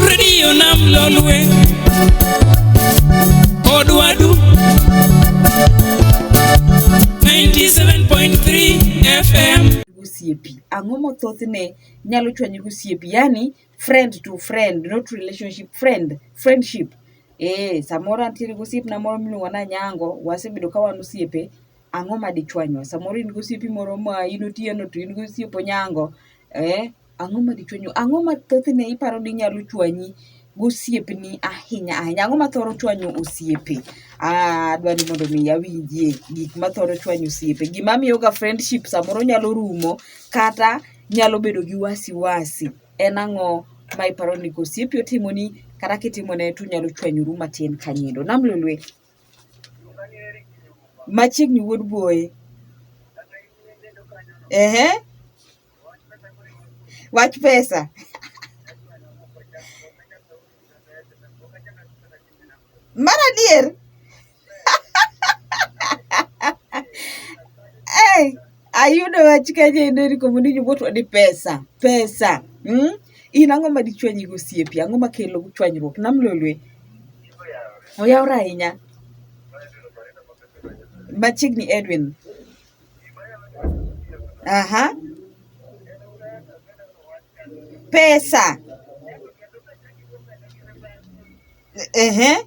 redio nam lolwe odwadu 97.3 fm osiepi ang'o mothothne nyalo chwanyo gi osiepi yani friend to friend not relationship friend friendship eh samoro antiere gi osiepna moro miluongo na nyango wasebedo ka wan osiepe ang'o ma dichwanywa? Samoro in gosiepi moro ma in otieno to in gosiep onyango, eh, ang'o ma dichwanyu? Ang'o ma thothne iparo ni nyalo chwanyi gosiepni ahinya ahinya? Ang'o ma thoro chwanyo osiepe? Ah, adwa ni mondo mi awinjie gik ma thoro chwanyo osiepe. Gima miyoga friendship samoro nyalo rumo kata nyalo bedo gi wasi wasi. En ang'o ma iparo ni kosiepi otimoni kata kitimone to unyalo chwanyoru matin kanyindo? Nam Lolwe. Machiegni wuod buoye. Ehe. Wach pesa. Mar adier. Hey. Ayudo wach kajendo ni komundi jowuotwa ni pesa, pesa. Mm? In ang'o ma dichwanyi gosiepi? Ang'o ma kelo chwanyruok? Nam lolwe. Oyawre ahinya. Machiegni Edwin. Aha. Pesa. Ehe. Uh -huh.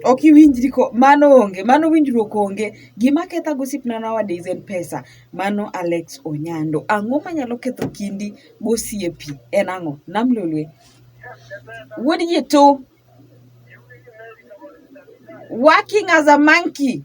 Ok iwinjri ko mano onge mano winjruok onge. Gima ketha gosiepna nowadays en pesa mano Alex Onyando. Ang'o manyalo ketho kindi gosiepi en ang'o? Nam Lolwe. Wuod Yeto. Working as a monkey.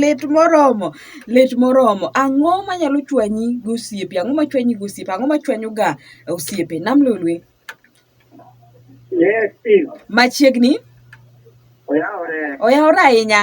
lit moromo lit moromo ang'o manyalo chwanyi gi osiepe ang'o machwanyi gi osiepe ang'o machwanyoga osiepe nam lolwe Yes, Steve. machiegni Oyawore. oyawore ahinya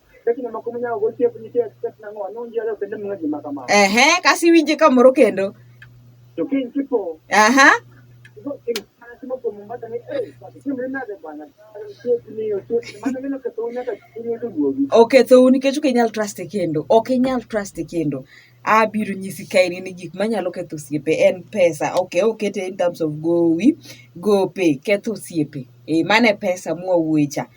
Ehe, kasi iwinje kamoro kendo. Aha. Okethou nikech ok inyal trust e kendo. Ok inyal trust e kendo. abiro nyisi ka in ni gik manyalo ketho osiepe en pesa ok okete in terms of gowi gope ketho osiepe e mane pesa mwawuoye cha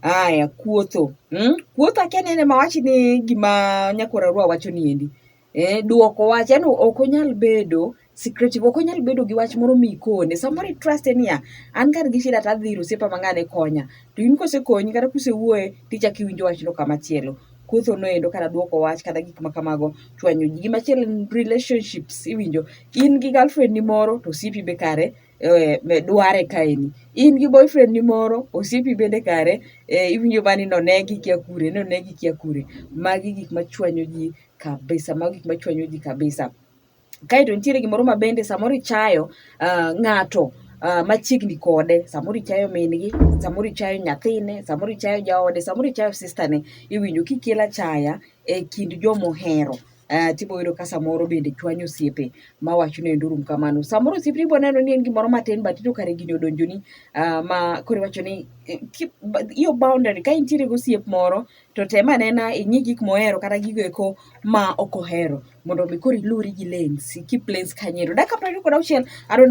aya kuotho hmm? kuotho akia ni ene mawachi ni gima nyakora rwa wacho ni endi eh, dwoko wach yani ok onyal bedo secretive ok onyal bedo gi wach moro mikone samoro itruste niya an kar gi shida to adhi ir osiepa mang'ane konya to in kosekonyi kata kusewuoye tichako iwinjo wachno kamachielo kotho noendo kata dwoko wach kata gik ma kamago chwanyo ji gimachielo en relationships iwinjo in gi girlfriend ni moro to osiepi be kare eh, me- dware kaeni in gi boyfriend ni moro osiepi bende kare eh, iwinjo bani nonegi kia kure nonegi kia kure magi gik machwanyo ji kabisa magi gik machwanyo ji kabisa Kaeto nitiere gimoro ma bende samoro ichayo uh, ng'ato uh, machiegni kode samoro ichayo mingi samoro ichayo nyathine samoro ichayo jaode samoro ichayo sistane iwinjo kikela chaya e kind jomohero Uh, tibo yudo ka samoro bende chwanyo osiepe ma wacho ni endo rum kamano samoro osiepni ibo neno ni en gimoro matin but ito kare gini odonjoni uh, ma koro iwacho ni eh, keep, your boundary ka intiere gosiep moro to tem anena ing'i gik mohero kata gigo eko ma ok ohero mondo mi koro iluri gi lensi keep lensi kanyo ero. Dakika piero ariyo kod auchiel I don't know